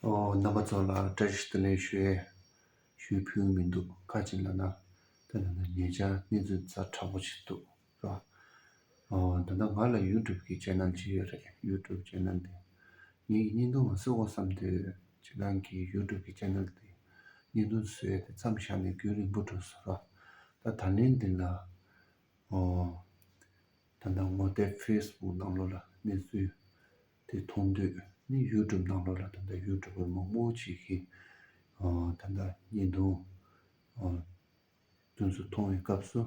རྣམ་པ་ཚོ་ལ་བཀྲ་ཤིས་བདེ་ལེགས་ཞུ། ཞུ་ཕུལ་མི་འདུག་ཁ་ཅིག་ལ་ན་དེ་ལ་ན་ཉེ་ཆར་གནས་ཚུལ་རྩ་དྲག་པོ་ཞིག་འདུག་རོགས། ད་ལྟ་ང་ལ་ཡུ་ཀྲུབ་ཀྱི་ཅན་ནན་ཅི་ཡོད་རེད་ཡུ་ཀྲུབ་ཅན་ནན་དེ་ངེད་ཀྱི་བརྙན་ཐུང་ལ་བསུ་བ་བསམ་དུས་ཅན་ནན་གྱི་ཡུ་ཀྲུབ་ཀྱི་ཅན་ནན་དེ་བརྙན་ཐུང་བཟོས་ཏེ་མཚམས་བཞག་ནས་རྒྱུན་རིང་པོ་འགྲོ་སོང་རོགས། ད་ད་ལན་འདི་ལ་ད་ད་ངོ་དེབ་ཕེས་སྦུག་ནང་ལོ་ལ་གནས་ཚུལ། དེ་མཐོང་དུས་ནི་ཡུལ་གྲུབ་སྣང་ལོག་ལ་ད་ལྟ་ཡུལ་གྲུབ་པོའི་མག་མོག་ཅིག་གིས་ད་ལྟ་གཉིས་འདུག། དུས་སུ་མཐོང་བའི་སྐབས་སུ་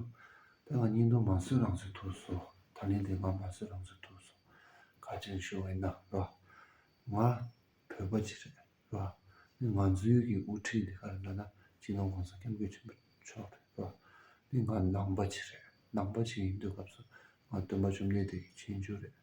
དེ་ལ་གཉིས་འདུག་མ་བཟོད་རང་བཟོད་ཐུགས་སུ་ད་ལན་དེ་ང་མ་བཟོད་རང་བཟོད་ཐུགས་སུ་ཁ་ཅིག་ཤོར་བས་ན་རོ། ང་བོད་པ་ཅིག་རེད་རོ། ནི་ང་ཚོའི་གི་དབུ་ཁྲིད་འདི་ག་རེད་ལ་ན་སྤྱི་ནོར་གོང་ས་སྐྱབས་མགོན་ཆེན་པོ་མཆོག་རེད་རོ། ནི་ང་ནང་པ་ཅིག་རེད་ནང་པ་ཅིག་ཡིན་དུས་སྐབས་སུ་ང་སྟོན་པ་བཅོམ་ལྡན་འདས་ཀྱི་མཁྱེན་ཆུང་རེད།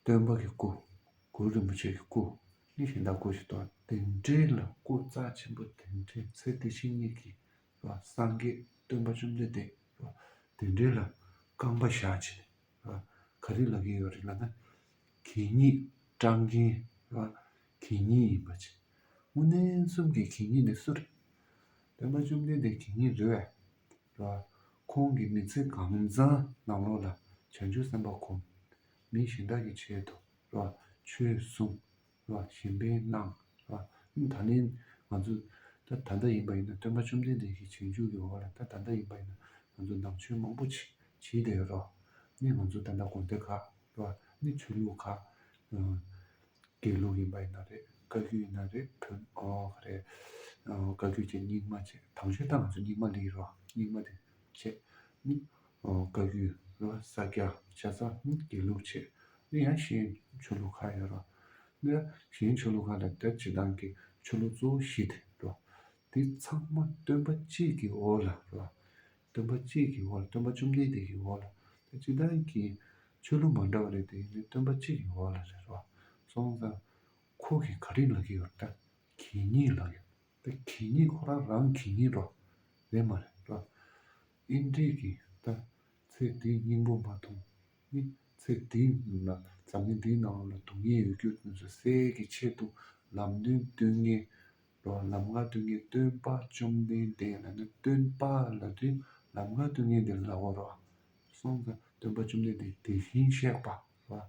སྟོན་པ་གི་སྐུ། གུ་རུ་རིན་པོ་ཆེ་གི་སྐུ། གཉིས་ཤིང་དག་སྐུ་ཞེས་བཏགས། དེ་འདྲའི་ལ་སྐུ་རྩ་ཆེན་པོ་དེ་འདྲའི་ཚེ་དེ་བཞིན་ཉིད་ཀྱི། སངས་རྒྱས་སྟོན་པ་བཅོམ་ལྡན་འདས། དེ་འདྲའི་ལ་རྐང་པ་བཞག་བྱས་ནས། ག་རེའི་ལ་གེ་ཡོད་རེད་ལ་ན། གད་སྙིགས་སྐྲངས་རྒྱན། གད་སྙིགས་ཡིན་པ་ཅི། དངོས་གནས་གསུམ་གྱི་གད་སྙིགས་ནི་སུ་རེད། སྟོན་པ་བཅོམ་ལྡན་འདས་གད་སྙིགས་རེད་བས། ཁོང་གི་མི་ཚེ་གང་བཟང་ནག་ལོག་ལ་བྱང་ཆུབ་སེམས་དཔའ་ཁོམ། མི་གཞན་དག་གི་ཆེད་དུ་ར་ཆོས་གསུངས། ར་གཞན་ཕན་གནང། ར་ཨུ་ད་ལན་ང་ཚོ་ད་ད་ལྟ་ཡིན་པ་ཡིན་ན་སྟོན་པ་བཅོམ་ལྡན་འདས་ཀྱི་བྱང་ཆུབ་ཀྱི་འོག་ལ་ད་ད་ལྟ་ཡིན་པ་ཡིན་ན་ང་ཚོ་ནང་ཆོས་མང་པོ་བྱེད་བྱེད་བསྡད་ཡོད་ར་ནི་ང་ཚོ་ད་ད་དགོན་སྡེ་ཁག་ར་ནི་ཆོས་ལུགས་ཁག། དགེ་ལུགས་ཡིན་པ་ཡིན་ན་རེད་བཀའ་བརྒྱུད་ཡིན་ན་རེད་བོན་ཨོ་ག་རེད། བཀའ་བརྒྱུད་ཀྱི་སྙིགས་མ་བཅས་དམ་ཆོས་ལྟར་ང་ཚོ་སྙིགས་མ་ལས་རོ་སྙིགས་མ་དེ་བཅས་ནི། བཀའ་བརྒྱུད་རོ་ས་སྐྱ་ཤ་ཚ་ནི་དགེ་ལུགས་བཅས་ནི་ཡང་གཞན་ཆོས་ལུགས་ཁག་ཡོད་རོ། ནི་གཞན་ཆོས་ལུགས་ཁག་ལ་དེར་བྱེད་སྟངས་ཀྱི་ཆོས་ལུགས་གཙོ་བོ་བཞི་དེ་རོ། དེ་ཚང་མ་སྟོན་པ་གཅིག་གི་འོག་ལ་རོ། སྟོན་པ་གཅིག་གི་འོག་ལ་སྟོན་པ་བཅོམ་ལྡན་འདས་ཀྱི་འོག་ལ་དེ་གཅིག་དང་གི། ཆོས་ལུགས་མ་འདྲ་བ་རེད་དེ་ཡིན་ནའི་སྟོན་པ་གཅིག་གི་འོག་ལ་རེད་རོ། སོང་ཙང། ཁོ་གི་ག་རིག་ལ་གི་ཡོད་རེད། གི་ཉིད་ལ་ཡོད། དེ་གི་ཉིད་ཁོ་རང་རང་གི་ཉིད་རོ། རེད་མ་རེད་རོ། ཨིན་དྲིས་གི་ད། ཚེ་འདིའི་སྙིང་པོ་མ་མཐོང། ནི། ཚེ་འདི་ན་འཛམ་གླིང་འདིའི་ནང་ལ་དུག་ངན་ཡོད་རྒྱུ་དེ་ཚོ་སེལ་གི་ཆེད་དུ་ལམ་སྟོན་སྟོན་ངན། ལོ་ལམ་ལྔ་སྡུད་ངེས་སྟོན་པ་བཅོམ་ལྡན་འདས་ལ་ནི་སྟོན་པ་ལ་དུས་ལམ་ལྔ་སྡུད་ངེས་འདི་ལྟ་བུར་རོ། གསུངས་ཀྱང་སྟོན་པ་བཅོམ་ལྡན་འདས་དེ་བཞིན་གཤེགས་པ་ལ་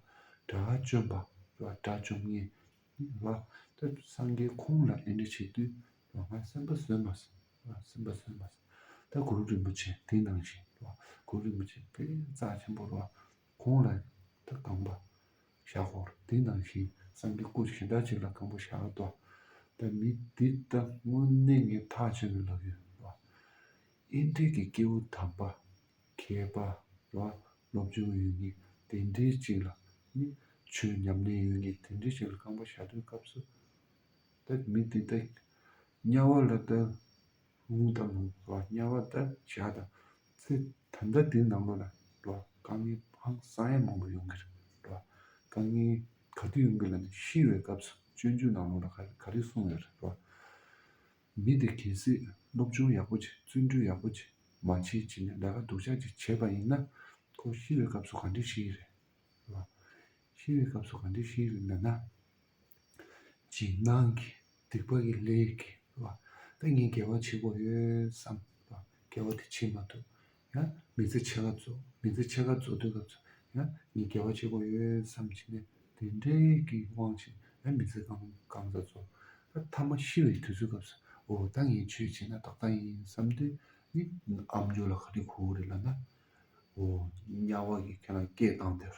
དགྲ་བཅོམ་པ་ལ་དགྲ་བཅོམ་ངེས་ལ། སངས་རྒྱས་ཁོང་ལ་འདི་འདྲ་བྱེད་དུས་ལོ་ང་སེམས་དཔའ་ཟོས་མ་ཟོས་སེམས་དཔའ་ཟོས་མ་ཟོས། ད་གུ་རུ་རིན་པོ་ཆེ་དེ་ནང་བཞིན་ལོ་གུ་རུ་རིན་པོ་ཆེ་དཔལ་རྩ་ཆེན་པོ་ལོ། གོང་ལ་དུ་རྐང་པ་བཞག་གོ། དེ་ནང་བཞིན་སངས་རྒྱས་སྐུ་ཞེ་སྡང་གཅིག་ལ་རྐང་པ་བཞག་ལ་དོ། བདག་མི་འདི་ལྟ་སྔོན་གནས་ངས་ཐག་ཆོད་ནས་ལབ་ཡོད་ལ། ཨེ་འབྲས་ཀྱི་སྐྱེ་བོ་དམ་པ་མཁས་པ་ལ་སློབ་སྦྱོང་ཡོད་ངེས་དེ་འདྲའི་གཅིག་ལ་ནི་ཆོས་ཉམས་ལེན་ཡོད་ངེས་དེ་འདྲའི་གཅིག་ལ་རྐང་པ་བཞག་དོན་སྐབས་སུ། བདག་མི་འདི་ལྟ་དམྱལ་བ་ལ་ལྟ། ལུང་དང་ལུང་ལ་དམྱལ་བ་འདི་བཞག་དང། ཚེ་ད་ལྟ་དུས་ནག་མོ་ལ། དཀའ་ངལ་ཧང་སང་ཡང་མང་པོ་ཡོང་གི་རེད། དཀའ་ངལ་ག་དུས་ཡོང་གི་ལ་ནི་ཤི་བའི་སྐབས་སུ་སྤྱོད་འཇུག་ནག་མོ་ལ་ག་རེ་གསུང་ཡོད་རེད། མི་དེ་གལ་སྲིད་སློབ་སྦྱོང་ཡག་པོ་ཅིག་བརྩོན་འགྲུས་ཡག་པོ་ཅིག་མ་བྱེད་ཅིག་ནས་ལས་ཀ་སྡུག་ཅག་ཅིག་བྱས་པ་ཡིན་ན། ཁོ་ཤི་བའི་སྐབས་སུ་ག་འདྲས་ཤི་ཡི་རེད། ཤི་བའི་སྐབས་སུ་ག་འདྲས་ཤི་ཡི་རེད་འདོད་ན། ཅིག་སྣང་གི་སྡིག་པ་ཡི་ལས་ཀྱིས་ལ་ད་ངས་དགེ་བ་བྱེད་དགོས་ཡོད་བསམ་ལ་དགེ་བ་དེ་བྱེད་མ་ཐུབ་ཡ། མི་ཚེ་ཕྱེད་ཀ་རྫོགས་མི་ཚེ་ཕྱེད་ཀ་རྫོགས་དུས་སྐབས་སུ་ཡ། ངས་དགེ་བ་བྱེད་དགོས་ཡོད་བསམ་བྱས་ནས་དེ་འབྲས་ཀྱི་དབང་བྱས་ཡ་མི་ཚེ་གང་གང་ཙམ་རྫོགས་ཡ་མཐའ་མ་ཤི་བའི་དུས་ཚོད་སྐབས་སུ་འོ་ད་ངས་ཆོས་བྱས་ན་ཏག་ཏག་ཡིན་བསམ་དུས་ནི་ཨ་མྱོས་ལ་ག་དུས་ཁོ་བོ་རེ་ལ་ན། འོ་དམྱལ་བ་ཡི་ཁྱེད་རང་སྐད་གདངས་དེར།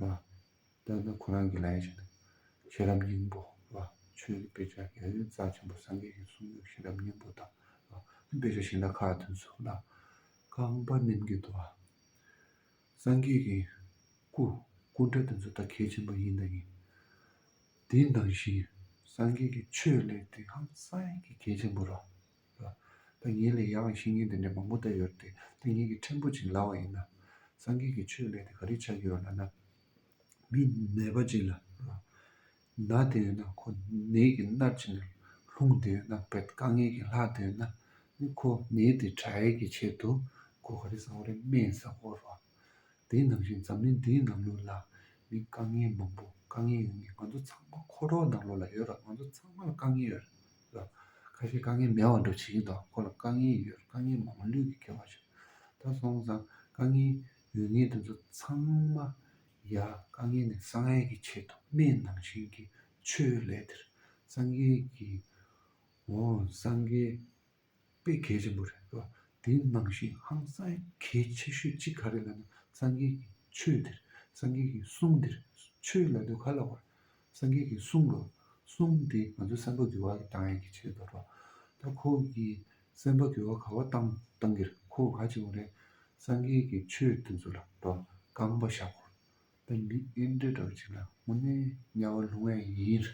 ལ། བསྟོད་ན་ཁོ་རང་གི་ལ་ཡ་ཞིག་འདུག། ཤེས་རབ་སྙིང་པོ་ལ། ཆོས་ཀྱི་དཔེ་ཆ་རྒྱལ་བའི་རྩ་ཆེན་པོ་སངས་རྒྱས་ཀྱི་གསུང་ཡང་ཤེས་རབ་སྙིང་པོ་དང། དཔེ་ཆ་གཞན་དག་ཁག་དོན་གསུམ་ལ། རྐང་པ་རྣེམ་གྱི་དུ་བ། སངས་རྒྱས་ཀྱི། སྐུ། སྐུ་འདྲ་དེ་ཚོ་ད་གལ་ཆེན་པོ་ཡིན་དང་ཡིན། དེ་ནང་བཞིན། སངས་རྒྱས་ཀྱི་ཆོས་ལས་དེ་ཧང་སངས་ཀྱི་གལ་ཆེན་པོ་ར། ད་ངེད་ལ་ཡང་བཤེས་གཉེན་དེ་འདྲ་མང་པོ་བལྟ་ཡོད་དེ་ད་ངེད་ཀྱིས་ཕྲན་བུ་ཅིག་ལབ་བ་ཡིན་ན། སངས་རྒྱས་ཀྱི་ཆོས་ལས་དེ་ག་རེ་ཆགས་ཀྱི་ཡོད་ལབ་ན། མི་ནད་པ་ཅིག་ལ། ན་དེ་ཡོད་ན་ཁོ་ནད་ཀྱི་མནར་གཅིག་ནས་ལྷུང་དེ་ཡོད་ན་བེད་དཀའ་ངལ་གྱི་ལྷག་དེ་ཡོད་ན། ནི་ཁོ་ནད་དེ་དྲག་ཡལ་གྱི་ཆེད་དུ་ཁོ་ག་རེ་བཟའ་བ་རེ་སྨན་བཟའ་དགོས་རོགས། དེ་ནང་བཞིན་འཛམ་གླིང་འདིའི་ནང་ལུས་ལ་ནི་དཀའ་ངལ་མང་པོ་དཀའ་ངལ་ཡོད་ངེས་ང་ཚོ་ཚང་མ་ཁོ་རོགས་ནང་ལུས་ལ་ཡོད་རོགས་ང་ཚོ་ཚང་མ་ལ་དཀའ་ངལ་ཡོད་རེད། ལ། ཁ་ཤས་དཀའ་ངལ་མེད་བར་འགྲོ་བྱེད་ཀྱིན་འདུག་ཁོ་ལ་དཀའ་ངལ་ཡོད་དཀའ་ངལ་མང་པོ་ལུས་ཀྱིས་ཁྱེར་བ་བྱུང། ད་སོང་ཙང་དཀའ་ངལ་ཡོད་ངེས་དེ་ཚོ་ཚང་མ་ཡལ་དཀའ་ངལ་ནི་ས་ངལ་གྱི་ཆེད་དུ་སྨན་ནང་བཞིན་གྱི་ཆོས་ལས་དེར་སངས་རྒྱས་ཀྱིས་འོང་སངས་རྒྱས་དཔེ་གལ་ཆེན་པོ་རེད་ལ་དེའི་ནང་བཞིན་ཧང་སངས་གལ་ཆེ་ཤོས་གཅིག་ག་རེ་ལ་ན་སངས་རྒྱས་ཀྱི་ཆོས་འདིར་སངས་རྒྱས་ཀྱི་གསུང་འདིར་ཆོས་ལ་དུས་ག་ལ་བར་སངས་རྒྱས་ཀྱི་གསུང་གོ། གསུང་འདི་ང་ཚོའི་སེམས་པ་འགུལ་བ་དང་ཡན་གྱི་ཆེད་དུ་རོ། ད་ཁོ་གི་སེམས་པ་འགུལ་བ་ག་བ་བཏང་བཏང་གིར་ཁོ་ག་བྱེད་འོང་རེད་སངས་རྒྱས་ཀྱི་ཆོས་དེ་ཚོ་ལ་རོ་རྐང་པ་བཞག་གོ། དཔལ་འབི་ཨིན་འབྲས་གྲོགས་གཅིག་ལ་དངོས་གནས་དམྱལ་བ་ལྷུང་བས་ཡིན།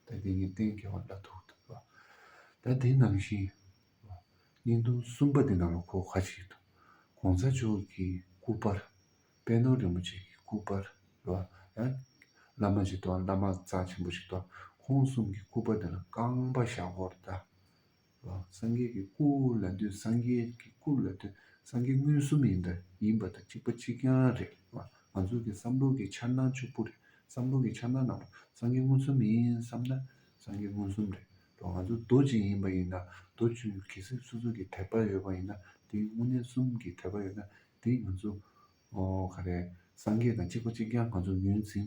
ད་དེ་ངའི་སྟེང་གི་བ་ལ་ཐུག་འདུག་བ། ད་དེ་ནང་བཞིན། བ། སྙིང་སྟོང་གསུམ་པ་འདི་ནང་ལ་འཁོར་ཁ་ཅིག་འདུག། གོང་ས་མཆོག་གི་སྐུ་དཔར། དཔལ་ནོར་རིན་པོ་ཆེ་གི་སྐུ་དཔར། བ། ཡང། བླ་མ་ཅིག་དང་བླ་མ་རྩ་ཆེན་པོ་ཅིག་དང་ཁོང་གསུམ་གྱི་སྐུ་དཔར་འདི་ལ་རྐང་པ་བཞག་སྐོར་གདའ། སངས་རྒྱས་ཀྱི་སྐུ་ལ་འདུད་སངས་རྒྱས་ཀྱི་སྐུ་ལ་འདུད་སངས་རྒྱས་མངོན་སུམ་ཡིན་པ་ཡིན་པ་དང་གཅིག་པ་གཅིག་རྐྱང་རེད་ང་ཚོ་གི་བསམ་བློ་གི་འཆར་སྣང་ཕྱུག་པོ་རེད་བསམ་བློ་གི་འཆར་སྣང་ནང་པོ་སངས་རྒྱས་མངོན་སུམ་ཡིན་བསམ་ན་སངས་རྒྱས་མངོན་སུམ་རེད་ང་ཚོ་རྡོ་རྗེ་ཡིན་པ་ཡིན་ན་རྡོ་རྗེ་གལ་སྲིད་སོ་སོ་གི་དད་པ་ཡོད་པ་ཡིན་ན་དེ་དངོས་གནས་གསུམ་གི་དད་པ་ཡོད་ན་དེ་ང་ཚོ་ག་རེ་སངས་རྒྱས་དང་གཅིག་པ་གཅིག་རྐྱང་ང་ཚོ་ངོས་འཛིན་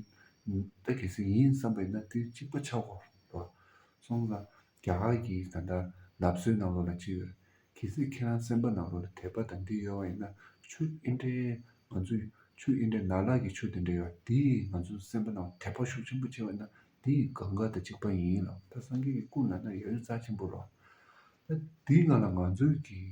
ད་གལ་སྲིད་ཡིན་བསམ་པ་ཡིན་ན་དེ་གཅིག་པ་ཆགས་གོ་རེད་སོང་ཙང་རྒྱ་གར་གྱི་ད་ལྟ་ནབ་སོའི་ནང་ལོ་ལ་ཅི་ཡོད། གལ་སྲིད་ཁྱེད་རང་སེམས་པ་ནང་ལོ་ལ་དད་པ་དང་འདི་ཡོད་བ་ཡིན་ན་ཆུ་ཨིན་དྲའི་ང་ཚོས་ཆུ་ཨིན་དྲའི་ནགས་ལག་གི་ཆུ་དེ་འདྲ་ཡོད་བ་དེས་ང་ཚོའི་སེམས་པ་ནང་དད་པ་ཤུགས་ཆེན་པོ་བྱེད་བ་ན་དེ་ཡི་གང་ག་དང་གཅིག་པ་ཡིན་ལགས་ད་སངས་རྒྱས་ཀྱི་སྐུ་ལ་ན་ཡོད་རེད་རྩ་ཆེན་པོ་རོགས། ད་དེའི་ནང་ལ་ང་ཚོས་ཀྱི།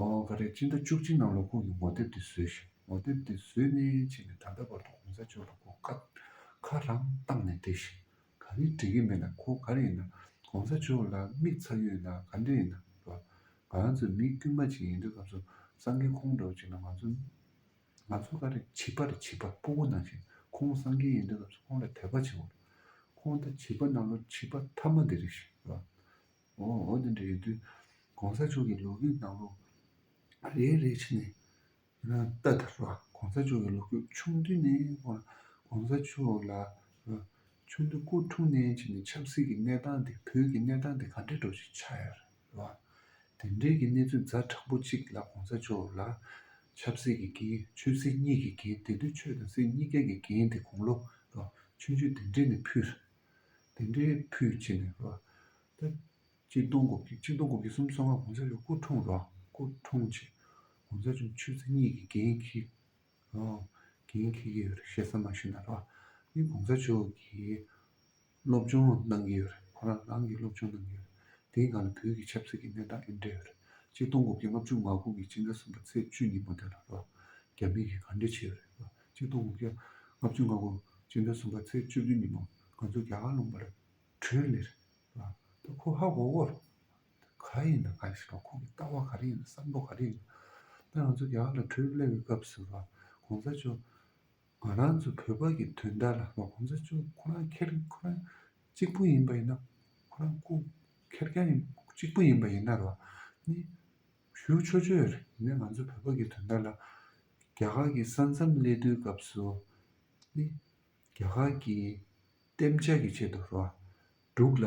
ཨོ་ག་རེ་སྤྱི་ཟླ་བཅུ་གཅིག་ནང་ལོ་ཁོག་གི་ངོ་དེབ་དེ་བཟོས་ཤིག་ངོ་དེབ་དེ་བཟོས་ནས་ཕྱིན་ནས་ད་ལྟ་བར་དུ་གོང་ས་མཆོག་ལ་ཁོ་ཁ་ཁ་རང་བཏགས་ནས་བསྡད་ཤིག་ག་རེ་འགྲིག་གི་མེད་ན་ཁོ་ག་རེ་ཡིན་ན་གོང་ས་མཆོག་ལ་དམིགས་ཚར་ཡོད་ན་ག་འདྲ་ཡིན་ན་བ་ང་ཚོ་མི་དཀྱུས་མ་ཅིག་ཡིན་དུས་སྐབས་སུ་སང་གི་ཁོང་འགྲོ་ཅིག་ན་ང་ཚོ་ང་ཚོ་ག་རེ་བྱིས་པ་རེ་བྱིས་པ་སྤོ་བོ་ནང་བཞིན་ཁོང་སང་གི་ཡིན་དུས་སྐབས་སུ་ཁོང་ལ་དད་པ་བྱེད་བོ་ཁོང་ད་བྱིས་པ་ནང་ལོ་བྱིས་པ་མཐའ་མ་འདི་རེ་བཞིན་བ་འོ་འོ་འདི་འདྲ་ཡོད་དུས་གོང་ས་མཆོག་གི་ལོ་རྒྱུས་གནང་ལུགས་རེ་རེ་ཕྱི་ནས་བལྟ་ད་རོགས་གོང་ས་མཆོག་གི་ལོ་རྒྱུས་ཆུང་དུས་ནས་ཧོར་གོང་ས་མཆོག་ལ་ཆུང་དུས་སྐུ་འཁྲུངས་ནས་ཕྱི་ནས་ཆབ་སྲིད་ཀྱི་གནས་སྟངས་དེ་བོད་ཀྱི་གནས་སྟངས་དེ་ག་འདྲའི་འགྲོ་ཞིག་ཆགས་ཡོད་རོགས་དེ་འདྲའི་གི་གནས་ཚུལ་རྫ་དྲག་པོ་གཅིག་ལ་གོང་ས་མཆོག་ལ་ཆབ་སྲིད་ཀྱི་འགན་ཆོས་སྲིད་གཉིས་ཀྱི་འགན་དེ་དུས་ཆོས་དང་སྲིད་གཉིས་ཀའི་གི་འགན་དེ་དགུང་ལོ་རོགས་ཆུང་ཆུང་དེ་འདྲས་ནས་ཕུལ། དེ་འདྲའི་ཕུད་ཕྱིན་ནས་རོ། ད་ཆིག་སྟོང་དགུ་བརྒྱ་ཆིག་སྟོང་དགུ་བརྒྱ་སུམ་སོ་ལྔ་གོང་ས་མཆོག་སྐུ་འཁྲུངས་རོ། སྐུ་འཁྲུངས་ཆེད་གོང་ས་མཆོག་ཆོས་རྗེ་གཉིས་ཀྱིས་འགན་འཁྱེར་རོ། འགན་འཁྱེར་གྱི་ཞེ་ས་མ་ཤི་ན་རོ། ནི་གོང་ས་མཆོག་གིས་སློབ་སྦྱོང་གནང་གི་ཡོད། ཁོ་རང་རང་གིས་སློབ་སྦྱོང་གནང་གི་ཡོད། དེའི་སྒང་ལ་བོད་ཀྱི་ཆབ་སྲིད་ཀྱི་གནས་སྟངས་ཨེ་འདྲ་ཡོད། ཆིག་སྟོང་དགུ་བརྒྱ་ལྔ་བཅུ་ང་དགུ་གི་ཕྱི་ཟླ་གསུམ་པ་ཚེས་བཅུ་ཉིན་མོ་དེ་ལ་རོ། རྒྱ་མི་གིས་ག་འདྲ་བྱས་ཡོད་རེད། སྤྱི་སྟོང་དགུ་བརྒྱ་ལྔ་བཅུ་ལྔ་དགུ་སྤྱི་ཟླ་གསུམ་པ་ཚེས་བཅུ་བདུན་ཉིན་མོ་ང་ཚོ་རྒྱ་གར་ལུང་པར་བྲོས་ལེ་རེད། ད་ཁོ་ཧ་གོ་གོ། ག་ཡིན་ན་ག་ཞིག་དང་ཁོང་གི་ལྟ་བ་ག་རེ་ཡིན་ན་བསམ་བློ་ག་རེ་ཡིན་ན། ད་ང་ཚོ་རྒྱ་གར་ལ་བྲོས་སླེབས་པའི་སྐབས་སུ་ལ་གོང་ས་མཆོག་ང་རང་ཚོ་བོད་པ་གི་དོན་དག་ལ་ལ་གོང་ས་མཆོག་ཁོ་རང་ཁེར་ཁོ་རང་གཅིག་པུ་ཡིན་པ་ཡིན་ན་ཁོ་རང་སྐུ་ཁེར་རྐྱང་ཡིན་གཅིག་པུ་ཡིན་པ་ཡིན་ན་རོ། ནི་ཞུ་ཆོ་ཆོ་ཡོད་རེད་ནས་ང་ཚོ་བོད་པ་གི་དོན་དག་ལ་རྒྱ་གར་གྱི་ས་མཚམས་གནད་བསྡུའི་སྐབས་སུ་ནི། རྒྱ་གར་གྱི་གཏན་འཇགས་ཀྱི་ཆེད་དུ་རོ། འབྲུག་ལ་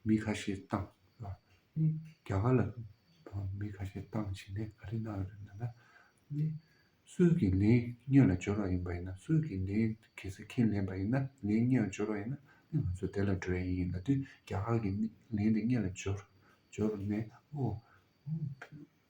མི་ཁ་ཤས་བཏང་བ་ནི། རྒྱ་གར་ལ་མི་ཁ་ཤས་བཏང་བྱས་ནས་ག་རེ་གནང་ཡོད་མེད་ལ་ནི། སུས་ཀྱིས་ལན་སྙོད་ལ་སྦྱོར་བ་ཡིན་པ་ཡིན་ན་སུས་ཀྱིས་ལན་གལ་སྲིད་ཁས་ལེན་པ་ཡིན་ན་ལན་སྙོད་ལ་སྦྱོར་བ་ཡིན་ན་ནི་ང་ཚོས་དེ་ལ་འགྲོ་ཡ་ཡིན་ལ་དུས་རྒྱ་གར་གྱིས་ནི་ལན་དེ་སྙོད་ལ་སྦྱོར། སྦྱོར་བ་ནས་ཨོ།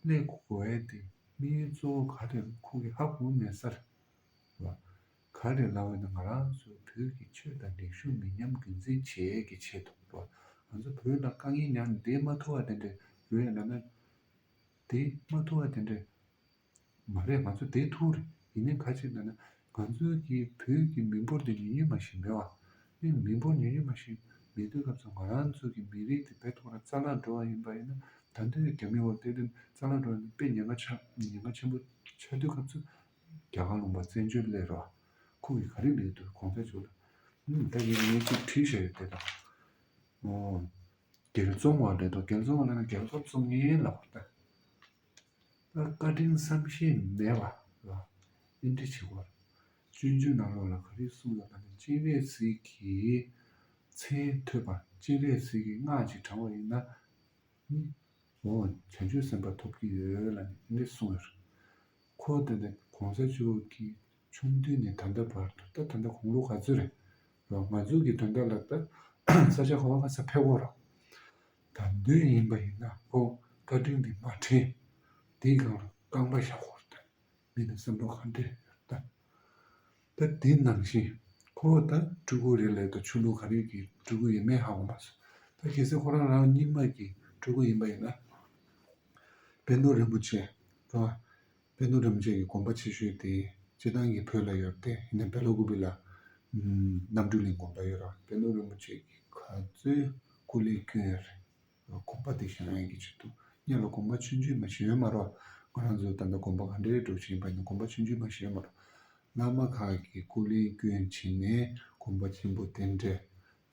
ཀླད་ཀོ་གོ་ཨེ་ཏི་དམིགས་ཡུལ་གཙོ་བོ་ག་རེ་ལ་ཁུག་གི་ཧ་གོ་མེད་ས་རེད། ལ་ག་རེ་ལ་འོན་ན་ང་རང་ཚོའི་བོད་ཀྱི་ཆོས་དང་རིག་གཞུང་མི་ཉམས་རྒྱུན་འཛིན་བྱེད་ཀྱི་ཆེད་དུ་ལ་ང་ཚོ་བོད་ལ་དཀའ་ངལ་མྱངས་ནས་དེ་མ་ཐུ་བ་དེ་འདྲ་རེད་ལ་ན་དེ་མ་ཐུ་བ་དེ་འདྲ་མ་རེད་ང་ཚོ་དེ་ཐུ་རེད་ཡིན་ནའི་ཁ་ཅིག་ལ་ན་ང་ཚོའི་གི་བོད་ཀྱི་མི་འབོར་འདི་ཉུང་ཉུང་མ་ཞིག་མེད་བ། དེ་མི་འབོར་ཉུང་ཉུང་མ་ཞིག་མེད་དུས་སྐབས་སུ་ང་རང་ཚོའི་གི་མི་རིགས་འདི་བེད་ཐོག་ར་རྩ་ལག་འགྲོ་བ་ཡིན་པ་ཡིན་ན་ད་འདོད་རྒྱ་མི་འོག་སྟེ་དོན་རྩ་ལག་འགྲོ་བ་ཡིན་ན་དཔེ་ཉེན་ཁ་ཆག་ཉེན་ཁ་ཆེན་པོ་ཆག་དུས་སྐབས་སུ་རྒྱ་གར་ལུང་པ་བཙན་བྱོལ་སླེ་རོགས་ཁོང་གི་ག་རེ་མེད་དུ་གོང་ཚད་བྱུག་ལ། ད་ངས་ངས་ཅིག་བྲིས་བཞག་ཡོད་དེ་དང། འོ། རྒྱལ་བཙོང་བ་རེད་དོ་རྒྱལ་བཙོང་བ་ལ་ན་རྒྱལ་ཁབ་བཙོང་ངན་ལབ་པར་ལྟ། བཀའ་དྲིན་བསམ་ཤེས་མེད་པ་ལ་ཨེ་འདྲི་བྱེད་སྐོར། སྤྱོད་འཇུག་ནང་ལོགས་ལ་ག་རེ་གསུངས་ཡོད་པ་ནི་སྤྱན་རས་གཟིགས་ཀྱི་མཚན་ཐོས་པ་སྤྱན་རས་གཟིགས་ཀྱི་སྔགས་ཀྱིས་དྲངས་བ་ཡིན་ན་ནི་འོང་བ་བྱང་ཆུབ་སེམས་དཔའ་ཐོབ་ཀྱི་ཡོད་ལ་ནི་ཨེ་འདྲི་གསུངས་ཡོད། ཁོ་བོ་ད་ནི་གོང་ས་མཆོག་གི་ཆུང་དུས་ནས་ད་ལྟ་བར་དུ་ད་ད་ལྟ་གུང་ལོ་ག་ཚོད་རེད། ང་ཚོ་གི་དོན་དག་ལ་ད་ས་ཆ་ག་བ་ག་ས་ཕེབས་སྐོར། དང་བདུན་ཡིན་པ་ཡིན་ན་བོ་བཀའ་དྲིན་འདི་མ་དྲན། དེའི་སྒང་ལ་རྐང་པ་ཞག་ཧོར་དང་མི་དང་བསམ་བློ་གང་འདྲེས་ཡོད་དམ། ད་དེ་ནང་བཞིན་ཁོ་བོ་ད་སྤྲུལ་སྐུ་རེད་ལས་ད་ཆོས་ལུགས་ག་རེ་གི་སྤྲུལ་སྐུ་ཡིན་མིན་ཧ་གོ་མ་སོང། ད་གལ་སྲིད་ཁོ་རང་རང་རྙིང་མ་གི་སྤྲུལ་སྐུ་ཡིན་པ་ཡིན་ན། དཔལ་རྡོར་རིན་པོ་ཆེ་དང། དཔེ་རྣོ་རིམ་བཅས་ཀྱི་གོམ་པ་ཆེ་ཤོས་དེ་སྤྱི་བཏང་གི་བོད་ལ་ཡོད་དེ་ཡིན་ན་བེ་ལོ་གུ་བི་ལ་གནམ་གྲུའི་གླིང་གོམ་པ་ཡོད་རང་དཔེ་རྣོ་རིམ་བཅས་ཀྱི་ག་ཚོད་སྐུ་ལས་སྐྱོན་ཡོད་རེད། གོམ་པ་དེ་ཞང་ཡན་གྱི་བྱེད་འདུག་སྙམ་ལ་གོམ་པ་ཆུང་ཆུང་མ་ཞེ་འོས་མ་རོགས་ང་རང་ཚོའི་ད་ལྟ་གོམ་པ་ག་འདྲེ་རེ་སྒྲོག་བཞིན་པ་ཡིན་ན་གོམ་པ་ཆུང་ཆུང་མ་ཞེ་འོས་མ་རོགས། བླ་མ་ཁག་གི་སྐུ་ལས་སྐྱོན་བྱས་ནས་གོམ་པ་ཆེན་པོ་དེ་འདྲེ་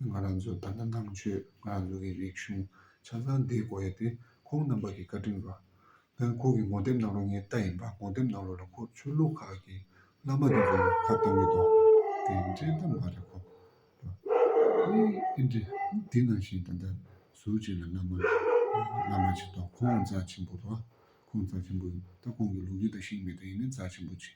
ང་རང་ཚོས་ད་ལྟ་ནང་ཆོས་ང་རང་ཚོ་གི་རིག་གཞུང་ཆ་ཚང་འདིའི་སྒོ་ཡེ་དེ་ཁོང་རྣམ་པ་གི་བཀའ་དྲིན་རོགས། ལན། ཁོང་གི་ངོ་དེབ་ནང་རུ་ངའི་རྟ་ཡིན་པ་ངོ་དེབ་ནང་རུ་ལ་ཁོ་ཆོས་ལུགས་ཁག་གི་བླ་མ་རེ་རེ་ཁ་བཏང་གི་འདུག་དེ་འདྲའི་རྟ་མ་རེད་ཁོ། ཨེ་འདྲ། དེ་ནང་བཞིན་ད་ལྟ་ཟུར་གཅིག་ལ་བླ་མ། བླ་མ་གཅིག་འདུག་ཁོང་རྩ་ཆེན་པོ་རོགས། ཁོང་རྩ་ཆེན་པོ་ཡིན། ད་ཁོང་གི་ལུག་རྒྱུད་དང་ཤིང་མི་དང་ཡིན་ནས་རྩ་ཆེན་པོ་གཅིག།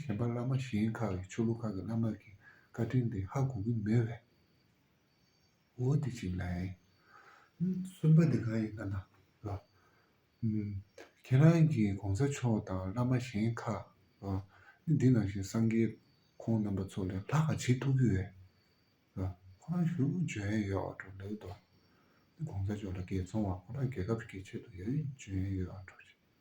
གཞན་པ་བླ་མ་གཞན་ཁག་གི་ཆོས་ལུགས་ཁག་གི་བླ་མ་གི་བཀའ་དྲིན་དེ་ཧ་གོ་གི་མེད་བས། འོ་དེ་གཅིག་ལ་ཨེ། གསུམ་པ་དེ་གང་ཡིན་ཁ་ན། ཁྱེད་རང་གི་གོང་ས་མཆོག་དང་བླ་མ་གཞན་ཁག་ནི་འདི་ནང་བཞིན་སངས་རྒྱས་ཁོང་རྣམ་པ་ཚོ་ལས་ལྷག་ག་བྱེད་ཐུབ་ཀྱི་ཡོད། ཁོ་རང་ཞུ་འཇོན་ཡོད་བ་འགྲོ་འདུག་དོ། གོང་ས་མཆོག་ལ་དགེ་ཚོང་བ་ཁོ་རང་རྒྱལ་ཁབ་ཀྱི་ཆེད་དུ་ཡོད་འཇོན་ཡོད་བ་འགྲོ་ཞིག།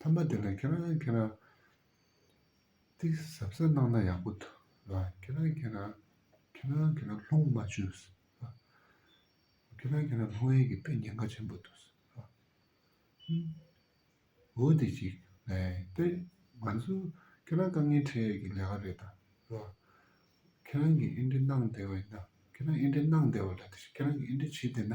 ཐ་མ་དེ་ལ་ཁྱེད་རང་ཁྱེད་རང། ཏིག་ཟབ་ས་གནང་ན་ཡག་པོ་འདུག་ལ། ཁྱེད་རང་ཁྱེད་རང། ཁྱེད་རང་ཁྱེད་རང་ལྷུང་མ་བྱོས། ཁྱེད་རང་ཁྱེད་རང་ལྷུང་ཡས་ཀྱི་དཔེ་ཉེན་ཁ་ཆེན་པོ་འདུག། འོ་དེ་ཅིག། དཔེ། ང་ཚོ། ཁྱེད་རང་དཀའ་ངལ་འཕྲད་ཡས་ཀྱི་ལས་ཀ་རེད་ད། ལ། ཁྱེད་རང་གིས་ཨེ་འདྲས་གནང་བདེ་བ་ཡིན་ན། ཁྱེད་རང་ཨེ་འདྲས་གནང་བདེ་བ་ལ་དེ་བཞིན་ཁྱེད་རང་གིས་ཨེ་འདྲས་བྱེད་བདེ་ན།